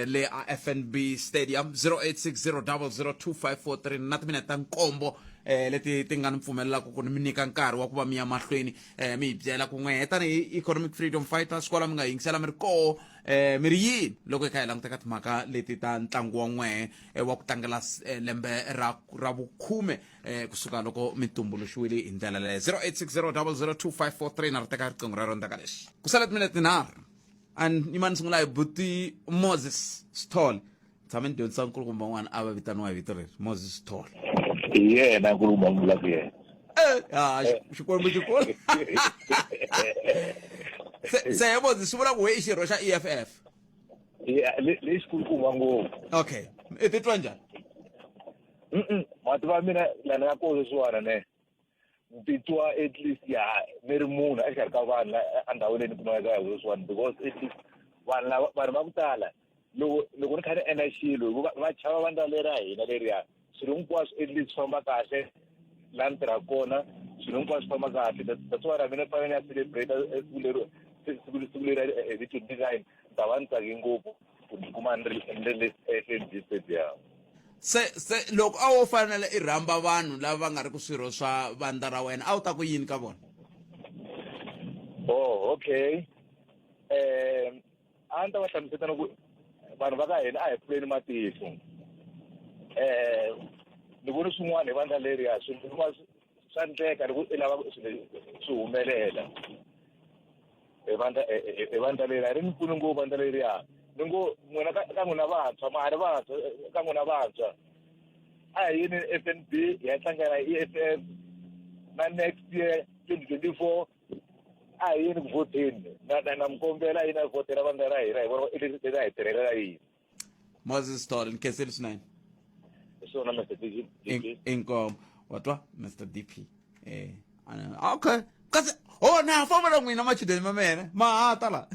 le a fnb stadium 0860002543 na timinete ta nkombo um leti ti nga ni pfumelelaka ku ni mi nyika nkarhi wa ku va mi ya mahlweni um mi hi byela ku n'we tanihi economic freedom fighters kwala mi nga yingisela mi ri koho um mi ri yini loko hi kha hi languta ka timhaka leti ta ntlangu wa n'wehe wa ku tlangela lembe ra ra vukhume eh kusuka loko mi tumbuluxiwile hi ndlela leyo 0860002543 na ri teka riqingho rero ndzaka lexi ku sala timinete nharhu and yima ni sungula hi buti moses sithole tshame ni dyondzisa nkulukumba un'wana a va vitaniwa hi vito leri moses sithole hi yena nkulukumba ni vulaka yena ha xikwembu xi kula se se he moses swi vula ku he i xirho xa eff lexikulukumba ngopfu okay i titwa njhani mativa mina la ni nga ko leswiwani ne ni titwa at least ya ni ri munhu exikarhi ka vanhu endhawini leyi ni kumaka ka leswiwani because at least vanhu lava vanhu va ku tala loko loko ni kha ni endla xilo hikuva va chava vandla leri ra hina leriya swilo hinkwaswo at least swi famba kahle laha ni tirhaka kona swilo hinkwaswo swi famba kahle that's why mina ni fanele ni ya celebrate siku siku leri hi ti-design ni ta va ni tsake ngopfu ku tikuma ni ri ni ri ehlendisediyamu se se loko a wo fanele i rhamba vanhu lava va nga ri ku swirho swa vandla ra wena a wu ta ku yini ka vona oh okay um a ni ta va hlamuseta loko vanhu va ka hina a hi pfuleni matihlo um ni voni swin'wana hi vandla leriya swin'wana swa ndleka loko i lava swi humelela evandla e, e, e, evandla leri a ri ni pfuni ngopfu vandla leriya ni ngo n'wina ka ka n'wina vantshwa ma ha ri vantshwa ka n'wina vantshwa a hi yini f n b hi ya hlangana i f f na next year twenty twenty four a hi yini ku vhoteni na na na mi kombela yini a vhotela vandla ra hina hi vona i leswi hi tirhelela yini moses tall ndikhesela usinene isona mr dp In- inkomo watwa mr dp eh ana- okay kasi oh na fambela n'wina machudeni ma mena mahata la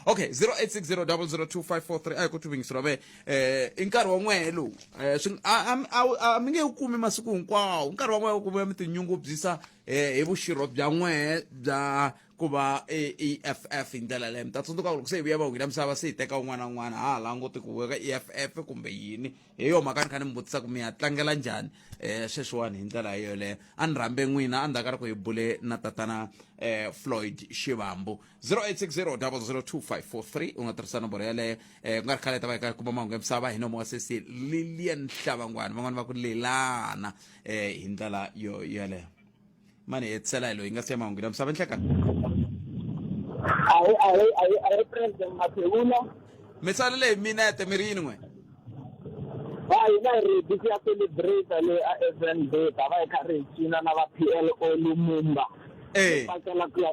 okay 0860002543 a hi ku tuvingisi ra me eh i nkarhi wa n'wehe lowu eh swi a- a- a- a mi nge wu kumi masiku hinkwawo nkarhi wa n'wehe wu kumiwa mi tinyungubyisa eh hi vuxirho bya n'wehe bya ku va eff hi ndlela leyo mi ta tsundzuka loko se hi vuya va wina misava se hi teka un'wana na un'wana ha ha languti ku veka eff kumbe yini hi yo mhaka ni kha ni mi vutisa ku mi ya tlangela njhani um sweswiwani hi ndlela yo yoleyo a ni rhambe n'wina a ndzhaku ka loko hi bule na tatana um floyd xivambu 0860 002 u nga tirhisa nomboro yaleyo um ku nga ri khale ta va hi ka kuma mahungu ya misava hi nomo wa sesi lilian hlavangwana van'wana va ku lelana um hi ndlela yo yoleyo mani hetisela hi loyi nga siya mahungu la misava nhlekani ayi ayi ayi ayi president maphewula mi salele hi minete mi ri yini n'we va hina hi ri bisi ya celebrate le a fnb ta va hi kha ri hi cina na va p l o lumumba ee pakela ku ya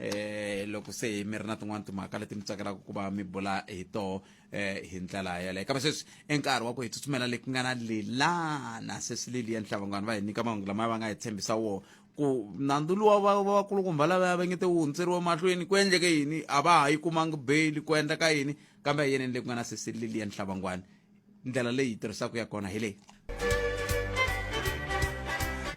eh loko se mi ri na tin'wana timhaka leti mi tsakelaka ku va mi bula hi toho eh hi ndlela yaleyo kambe sweswi i nkarhi wa ku hi tsutsumela le ku nga na lilana sweswi liliya nhlabangwana va hi nyika mahungu lama va nga hi tshembisa wona ku nandzu luwa va vakulukumba lavaya va ngete wu hundzeriwa mahlweni ku endleke yini a va ha yi kumangi beyili ku endla ka yini kambe a yeneni le ku nga na sweswi liliya nhlabangwana ndlela leyi hi tirhisaka ya kona hi leyi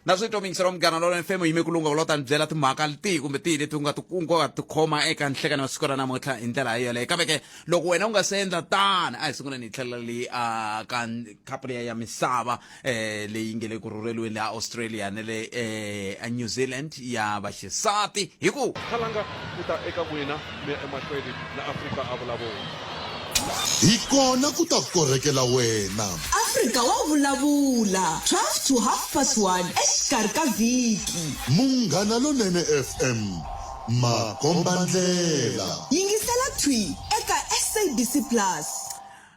na swi twa mingisero munghana lolo mfemo yime ku lunga lota ni byela timhaka tihi kumbe tihi leti u nga ti u nga ti khoma eka nhlekani wa siku ra namuntlha hi ndlela hi yoleyo kambe ke loko wena u nga se endla tani a hi sunguleni hi tlhelela leyi a ka khapuleya ya misava eh leyi nge le ku rhurheriweni le australia ne le eh new zealand ya vaxisati hi ku khalanga ku ta eka n'wina mi ya emahlweni na afrika a vulavula hi kona ku ta korhekela wena afrika wa vulavula 12 to half past 1 exikarhi ka vhiki munghana lonene fm makombandlela yingisela thwi eka sabc plus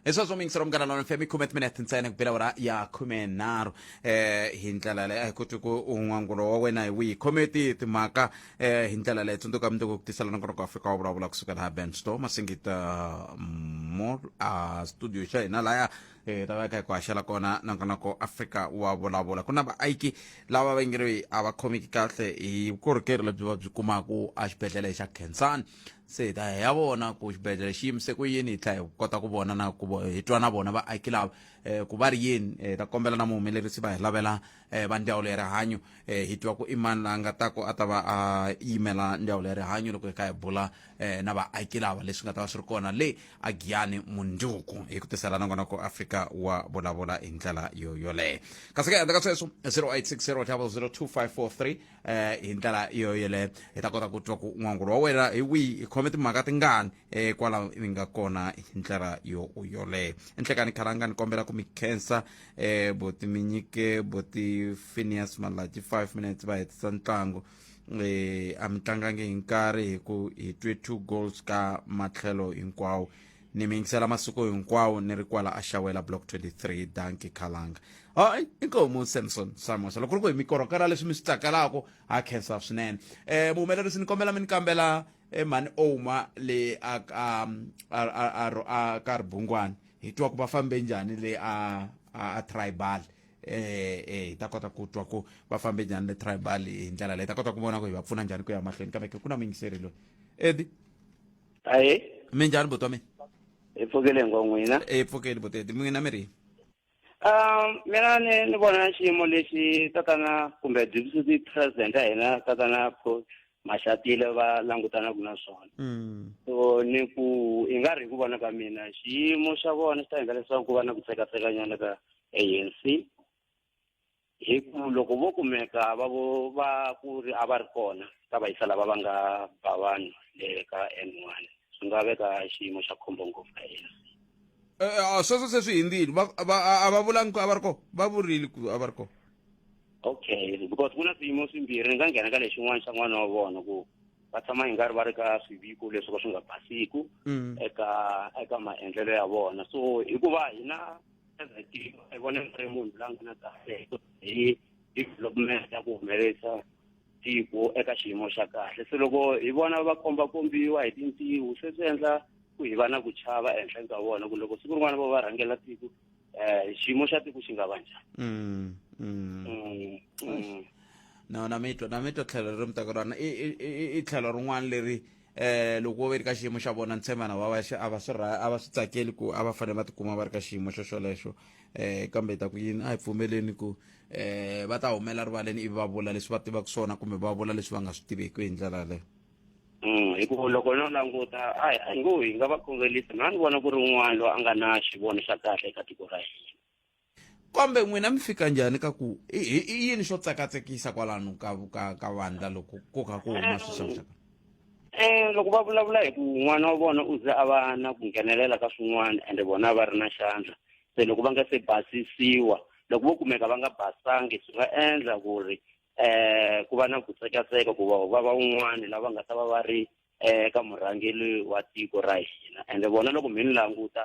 hisweswo mingisero munghana lona fm khume timinete ntsena ku bela ora ya khume nharhu eh hi ndlela leyi a hi koti ku un'wangulo wa wena hi wihi khome ti timhaka eh hi ndlela leyi tsundzuka mundzuku ku tisela nongonoko wa afrika wa vulavula kusuka laha ben store masingita mall a studio xa hina laya eh lava ka hi ku haxela kona nongonoko afrika wa vulavula ku na vaaiki lava va nge ri a va khomeki kahle hi vukorhokeri lebyi va byi kumaka exibedhlele xa khensani se hi ta hi ya vona ku xibedhlele xi yimise ku yini hi tlhela hi kota ku vona na ku hi twa na vona vaaki lava um ku va ri yini um hi ta kombela na muhumelerisi va hi lavela um va ndzawulo ya rihanyo um hi twa ku i mani la nga ta ku a ta va a yimela ndzawulo ya rihanyo loko hi kha hi bula um na vaaki lava leswi nga ta va swi ri kona le a giyani mundzuku hi ku tisela na kona ku afrika wa vulavula hi ndlela yo yoleyo kasi ke handle ka sweswo 0860 tlhava 02543 eh hi ndlela yo yeleyo hi ta kota ku twa ku n'wangulo wa wena hi wihi hi khome timhaka tingani eh kwalaho mi nga kona hi ndlela yo yoleyo enhlekani khalanga ni kombela ku mi khensa eh boti mi nyike boti phineas malaji five minutes va hetisa ntlangu eh a mi tlangangi hi nkarhi hi ku hi twe two goals ka matlhelo hinkwawo ni mi yingisela masiku hinkwawo ni ri kwala a xawela block 23 danki khalanga hayi inkomu samson samosa loko ri ku hi mi korhokela leswi mi swi tsakelaka ha khensa swinene um muhumelerisi ni kombela mi ni kambela eh, mhani oma le a ka um, a- a- a ro- a ka ribungwani hi twa ku va fambe njhani le a a a tribal eh eh hi ta kota ku twa ku va fambe njhani le tribal hi ndlela leyi hi ta kota ku vona ku hi va pfuna njhani ku ya mahlweni kambe ke ku na muyingiseri loyi edi aye minjhani buti wa mina hi pfukile ngo n'wina hi pfukile buteti n'wina mi ri um mina ni ni vona xiyimo lexi tatana kumbe deputy president ya hina tatana Paul maxatile va langutanaka na swona mm. so ni ku i nga ri hi ku vona ka mina xiyimo xa vona xi ta endla leswaku ku va na ku tsekatsekanyana ka anc hi ku loko vo kumeka va vo va ku ri a va ri kona ka vayisa lava va nga ba vanhu le ka n one swi nga veka xiyimo xa khombo ngopfu ka ANC Eh, eh, ah, sweswo se swi hindzile Va- va- a a va vulangi ku a va ri kona va vurile ku a va ri kona okay because ku na swiyimo swimbirhi ni nga nghena ka lexin'wana xa n'wana wa vona ku va tshama hi nga ri va ri ka swiviko leswi ka swi nga basiku Mm. eka eka maendlelo ya vona so hikuva hina ezitiko i vona ni ri munhu la nga na kahle hi development ya ku humelerisa tiko eka xiyimo xa kahle se loko hi vona va kombakombiwa hi tintiho se swi endla ku hi va na ku chava ehenhleni ka vona ku loko siku rin'wana vo va rhangela tiko um xiyimo xa tiko xi nga va njhani mm, mm. mm, na mi twa na mi twa tlhelo leri mi taka rona i tlhelo rin'wana leri eh loko wo ve ri ka xiyimo xa vona ntshemana va va a va swi a va swi tsakeli ku a va fanele va tikuma va ri ka xiyimo xo xolexo eh kambe ta ku yini a hi pfumeleni ku eh va ta humela rivaleni ivi va vula leswi va tivaka swona kumbe va vula leswi va nga swi tiveki hi ndlela yaleyo mm, hikuva loko no languta a hi ngo hi nga va khongelisi na ni vona ku ri un'wana loyi a nga na xivono xa kahle eka tiko ra hina kambe n'wina mi fika njhani ka ku i i- i yini xo tsakatsekisa kwalano ka ka ka vandla loko ko ka ku huma swixakaxaka um loko va vulavula hi ku n'wana wa vona u ze a va na ku nghenelela ka swin'wana ende vona va ri na xandla se loko va nga se basisiwa loko vo kumeka va nga basangi swi nga endla ku ri um ku va na ku tsekatseka ku va va va un'wana lava nga ta va va ri um ka murhangeri wa tiko ra hina ende vona loko mi ni languta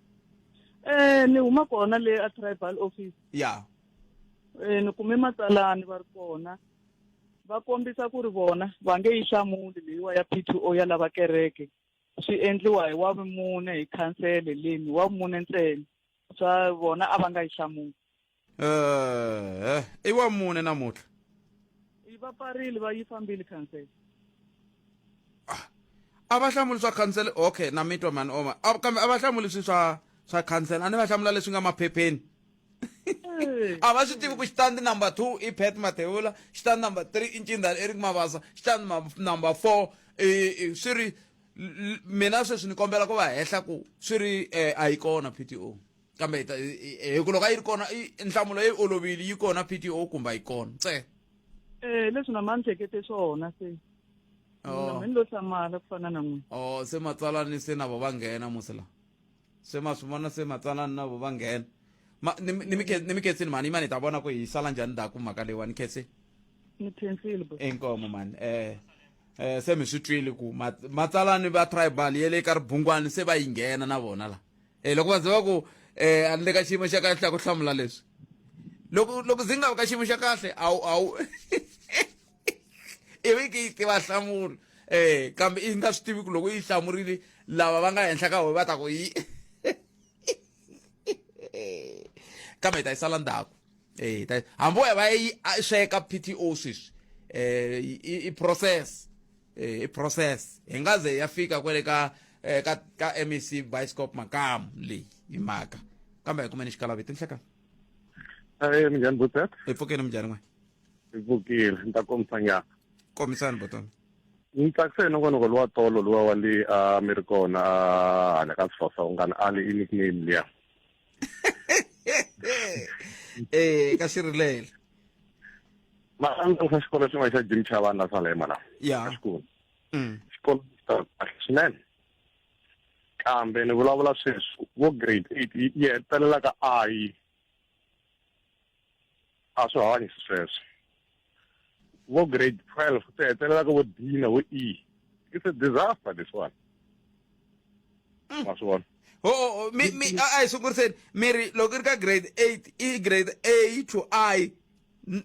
Eh ni huma kona le a tribal office. Yeah. Eh ni kume matsalani va ri kona. Va kombisa ku ri vona va nge yi xamuli leyiwa ya P2O ya lava kereke. Swi endliwa hi wa vumune hi khansele leni wa vumune ntsena. Swa vona a va nga yi xamuli. Eh, i wa mune namuhla yi va pfarile va yi fambile khansele a va hlamuli swa khansele okay na mitwa mani oma A- kambe a va hlamuli swi swa swa khansele a ni va hlamula leswi nga maphepheni Eh, a va swi tivi ku xitandi number two i pet mathewula xitandi number three i ncindhani eric mavasa xitandi ma- number four i, i, swi ri l- l- mina sweswi ni kombela ku va hehla ku swi ri eh, a yi kona pto kambe hi ku loko a yi ri kona nhlamulo yi olovile yi kona pto kumba yi kona ntsena um leswi na ma ni hlekete swona se oh. ni lo hlamala ku fana na n'wina o oh, se matsalani se na vo va nghena musi lawa se ma swi vona se matsalani na vo va nghena ni mi khensini mhani yimani hi ta vona ku hi sala njhani ndaku mhaka leyiwa ni khensini ni khensile bo inkomo mani um eh, um eh, se mi swi twile ku matsalani va tribal ye le ka ribungwani se va yi nghena na vona laha e loko va za va ku um a ni le ka xiyimo xa kahle ya ku hlamula leswi loko loko ndzi nga vi ka xiyimo xa kahle a wu a wu i vi ki yi tiva nhlamulo um kambe i nga swi tivi ku loko yi hlamurile lava va nga henhla ka howe va ta ku yi kambe hi ta yi sala ndzhaku um hambi wo ya va yi sweka p t o sweswi um i process eh, i process hi nga ze ya fika kwale ka eh, ka ka MEC Bioscope Makamu leyi hi mhaka kambe hi kumeni xikalavi tinhlekani Eh minjhani Butet? hi pfukeni minjhani n'we Hi pfukile, ni ta kombisa nyana. kombisani botona Ni tsakise nongonoko lowa tolo lowa wa le a mi ri kona a hala ka Sifasa u nga ni ali i nickname liya. eh ka sirhelelo ma andza swa xikolo xin'wana xa jim xa vana swa lema la ya xikolo mm. xikolo swinene kambe ni vulavula sweswi vo grade eight yi hetelela ka i A swi hanyi xisweswo. Vo grade 12 ku ta hetelela ka vo D na vo E. It's a disaster this one. Mm. Ma swi vona? ho oh, oh, oh, mi mi a hi sunguriseni mi ri loko ri ka grade eight i grade a to i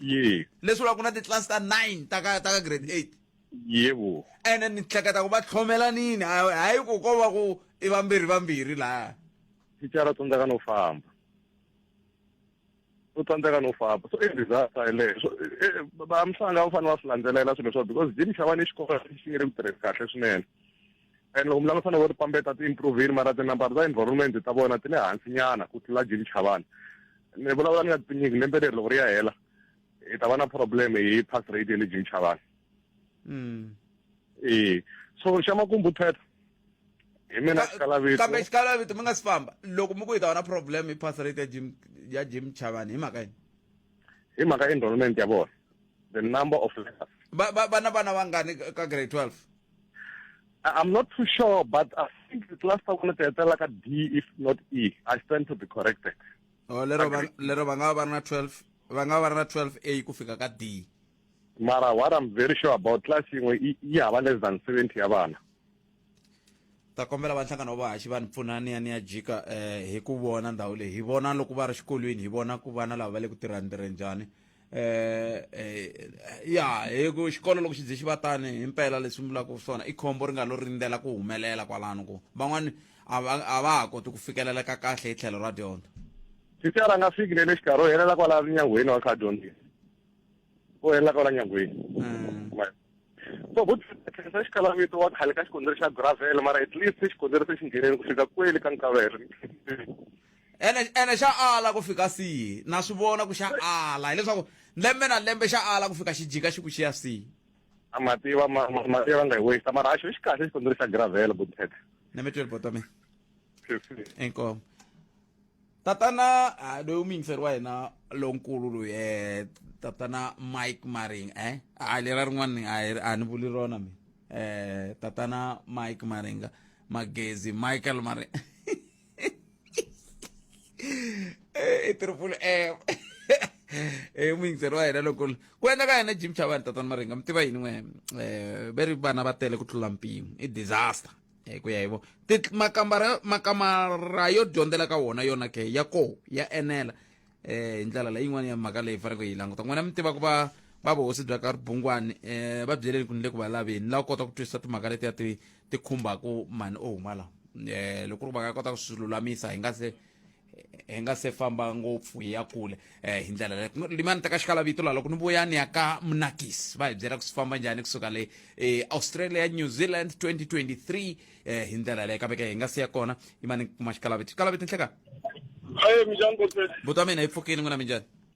yes leswi vula ku na titlasi ta nine ta ka ta ka grade eight yebo ene ni hleketa ku va tlhomelanini hayi ku ko va ku i vambirhi vambirhi laha thicara tsandzaka no famba u tsandzeka no famba so i disaster yeleyo so va mhlanga va fanele va swi landzelela swilo swa because gym xa vana i xikolo xi nge le ku tirheni kahle swinene and loko mlanga fanele va ri pambeta ti-improvini mara tinambara ta environment ta vona ti le hansi nyana ku tlula gym xa vana ni vulavula ni nga tinyiki lembe leri loko ri ya hela hi ta va na problem hi pass rate ya le gym xa vana ee so xa makumbu thweta hi mina xikalavito kambe xikalavito mi nga si famba loko mi ku yi ta va na problem hi pass rate ya jim ya jim chavani hi mhaka yini hi mhaka enrollment ya vona the number of letters ba ba bana bana vangani ka grade 12 I'm not too sure, but I think the class I wanted to like a D, if not E. I stand to be corrected. Oh, lero ba lero ba nga ba na 12, ba nga ba na 12A ku fika ka D. mara what i'm very sure about class yin'we yi yi hava less than 70 ya vana ta kombela va nhlangano wa vahaxi va ni pfuna ni ya ni ya jika um hi ku vona ndhawu leyi hi vona loko va ri xikolweni hi vona ku vana lava va le ku tirhani tirhe njhani um ya hi ku xikolo loko xi dze xi va tani hi mpela leswi vulaka swona i khombo ri nga lo rindzela ku humelela kwalano ku van'wani a va a va ha koti ku fikeleleka kahle hi tlhelo ra dyondzo sisera a nga fiki ne le xikarhi u helela kwalano nyangweni wa kha dyondzini ku hela kwala nyangweni mm. so vo tlherisa xikalavito wa khale ka xikondzeri xa gravel mara at least xikondzeri se xi ngheneni ku fika kweli ka nkavelo ene ene xa ala ku fika sihi na swi vona ku xa ala hileswaku lembe na lembe xa ala ku fika xi jika xi ku xiya sihi a mativa mativa nga hi wisa mara a xo xi kahle xikondzeri xa gravel botete na mitweli botome inkomo tatana ah, loyi umuyingiseri wa hina lonkulu loyi eh tatana mike maring eh ah, lera rin'wana a ni vuli rona mina eh tatana mike maringa magezi michael maringa eh, i triple m e muyingiseri wa hina loko ku endla ka yena jim chavani tatana maringa mi tiva yini n'we um eh, ve ri vana va tele ku tlula mpimo i disaster hi ku ya hi vo makambara makamara yo dyondzela ka wona yona ke ya koho ya enela eh hi ndlela leyi yin'wana ya mhaka leyi faneleke hi languta n'wina mi tiva ku va va vuhosi bya ka ribungwani um va byeleni ku ni le ku va laveni la kota ku twisisa timhaka letiya ti ti khumbaku mani o huma la um loko ri va ka kota ku swi lulamisa hi nga se hi nga se famba ngopfu hi ya kule um hi ndlela leyi ku limani teka xikalavito laha loko ni vuya ni ya ka munakisi va hi byela ku swi famba njhani kusuka le eh, australia new zealand 2023 um hi ndlela leyi kambe ke hi nga si ya kona yimani kuma xikalavito xikalavito nhleka Hey, minjhani Godfrey? buto ya mina yi pfukile n'wina minjhani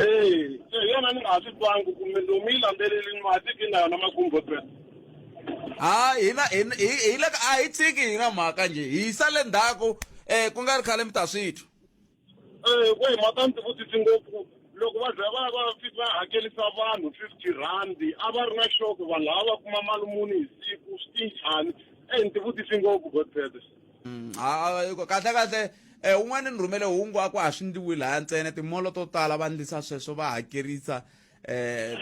Ee, se hi yona ni nga ha swi twangi kumbe lomu yi landzelelini matiki na yona makumbo tsena ha hina hina- hi hi le ka a hi tshiki hi nga mhaka njhe hi yisa le ndzhaku um ku nga ri khale mi ta swi twa Eh, ku hi mhaka ndzi vutisi ngopfu loko va za va va fika va hakelisa vanhu fifty rhandi a va ri na xoko vanhu lava va kuma mali muni hi siku swi tinjhani e ndzi vutisi ngopfu godfede mm, kahle kahle um un'wana ni rhumele hungu a ku ha swi ndliwi laya ntsena timolo to tala va ndlisa sweswo va hakerisa eh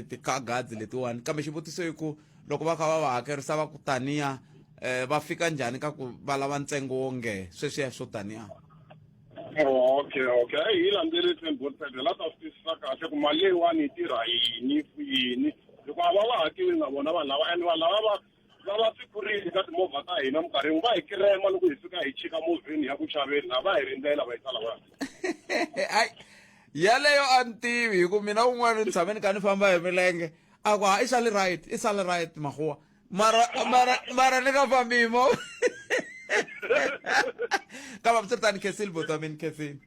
ti-car guards letiwani kambe xivutiso i ku loko va kha va va hakerisa va ku taniya um va fika njhani ka ku va lava ntsengo wo nge sweswiya swo taniya oh, okay okay a hi landzerise mbotele la ta swi twisisa kahle ku mali leyiwani yi tirha yini ku yini hikuva va va hakiwi na vona vanhu lava and vanhu lava va lava swipfurini ka timovha ta hina minkarhi yin'we va hi kirema loko hi fika hi chika movheni ya ku xaveni laha va hi rindzela va yi tsala va Ai, yaleyo a ni tivi hi ku mina un'wana ni tshame ni kha ni famba hi milenge a ku ha i sale right i sale right mahuwa mara mara mara ni nga fambi hi movha ka vavusirtani khesile botsamini khesile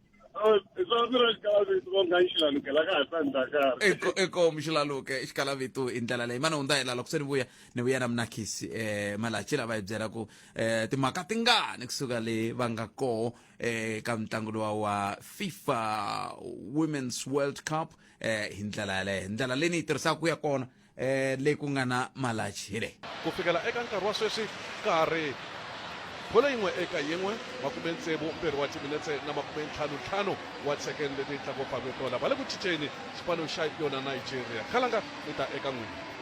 eko muxilaluke xikalavitu hi ndlela leyi mana hundza hela loko se ni vuya ni vuya na munakisi um malachi lava hi byela ku um timhaka tingani kusuka le va nga koho um ka mitlangu lowa wa fifa women's world cup um hi ndlela yaleyo ndlela leyi ni yi tirhisaka ku ya kona eh, leyi ku nga na malachi hi leyi ku fikela eka nkarhi wa sweswi ka ha ri bolo yin'we eka yin'we makume tsevu mbirhi wa timinetse na makume ntlhanu ntlhanu wa second leti yi tlaku pavetola va le ku cinceni xipano xa yona nigeria khalanga mi ta eka n'wini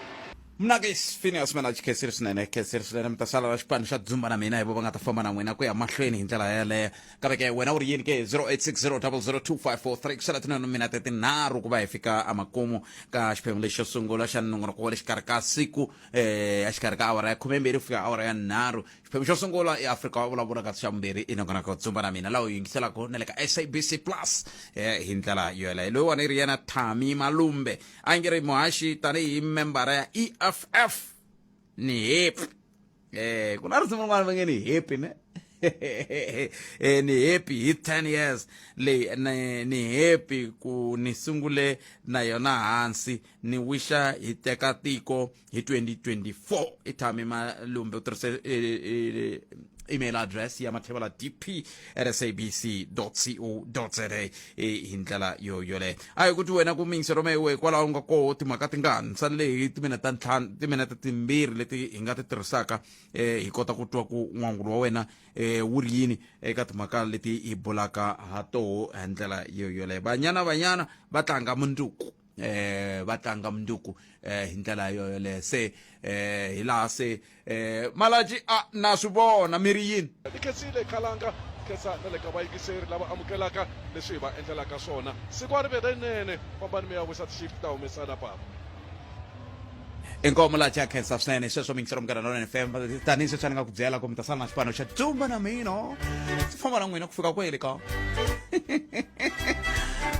mnakis phineas manach khesiri swinene khesiri swinene mi ta sala ra xipano xa dzumba na mina hi vo va nga ta famba na n'wina ku ya mahlweni hi ndlela yeleyo kambe ke wena u ri yini ke 0860002543 ku sala tinanu minete tinharhu ku va hi fika emakumu ka xiphemu lexi xo sungula xa nongonoko wa le xikarhi ka siku eh exikarhi ka awara ya khumembirhi ku fika awara ya nharhu xiphemu xo sungula i afrika wa vulavula kasi xa vumbirhi i nongonoko dzumba na mina laha u yingiselaka na le ka sabc plus eh hi ndlela yoyeleyo loyiwani i ri yena thami malumbe a nge ri muhaxi tanihi membara ya eff ni hepi Eh, ku na risimu rin'wana va nge ni happy ne eh, ni happy hi 10 years leyi ni, ni happy ku ni sungule na yona hansi ni wisha hi teka tiko hi 2024 i thami malumbe u tirhise eh, eh, email address ya mathevela dp sabc co za hi ndlela yo yoleyo a hi ku ti wena ku mingise roma iwe hikwalaho u nga koho timhaka ti nga ntsani leyi timinete ntlhanu timinete timbirhi leti hi nga ti tirhisaka um hi kota ku twa ku n'wangulo wa wena um wu ri yini eka timhaka leti hi bulaka ha toho hi ndlela yo yoleyo banyana banyana va tlanga mundzuku eh va tlanga munduku eh hi ndlela yoyoleyo se eh hi laha se eh malaji a na swi vona mi ri yini ni khensile khalanga khensa na le ka vayingiseri lava amukelaka leswi hi va endlelaka swona siku a ri ve lerinene fambani mi ya wisa ti-shift ta humesana papa inkomo la cha khensa swinene hi sweswo mingiselo munghana lonene fm tanihi sweswi ni nga ku byela ku mi ta sala na xipano xa tumba na mina ndzi famba na n'wina ku fika kwele ka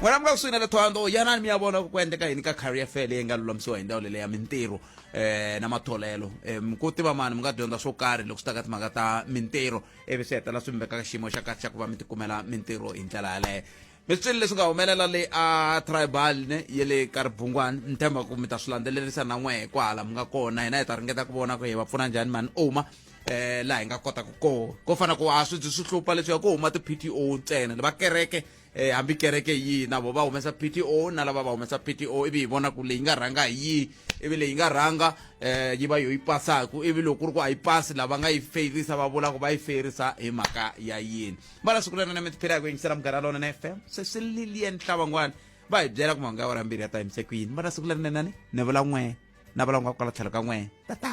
n'wina mi nga kusuhi na le thondo yanani mi ya vona ku endleka yini ka career fair leyi nga lulamisiwa hi ndhawu leleya mintirho um na matholelo um ku tiva mani mi nga dyondza swo karhi loko swi ta ka timhaka ta mintirho ivi swi hetela swi mi veka ka xiyimo xa kahle xa ku va mi tikumela mintirho hi ndlela yaleyo mi swi twile leswi nga humelela le a tribal ne ye le ka ribungwani ni tshemba ku mi ta swi landzelerisa na n'we hi kwahala mi nga kona hina hi ta ringeta ku vona ku hi va pfuna njhani mani oma eh laha hi nga kota ku ko ko fana ku a swi swi hlupha leswi ya ku huma ti PTO ntsena va kereke eh hambi kereke yi na vo va humesa PTO na lava va humesa PTO ivi hi vona ku leyi nga rhanga hi yi ivi leyi nga rhanga eh yi va yo yi pasaku ivi loko ku ri ku a yi pasi lava nga yi feyirisa va vula ku va yi feyirisa hi mhaka ya yini va la siku lana na mi tiphela hi ku yingisela munghana lona na fm se swi lilie ntlawa n'wana va hi byela ku mahungu ya wara mbirhi ya ta yimise ku yini va na siku lerinenani ni vula n'we na vula n'we kwala tlhelo ka n'we tata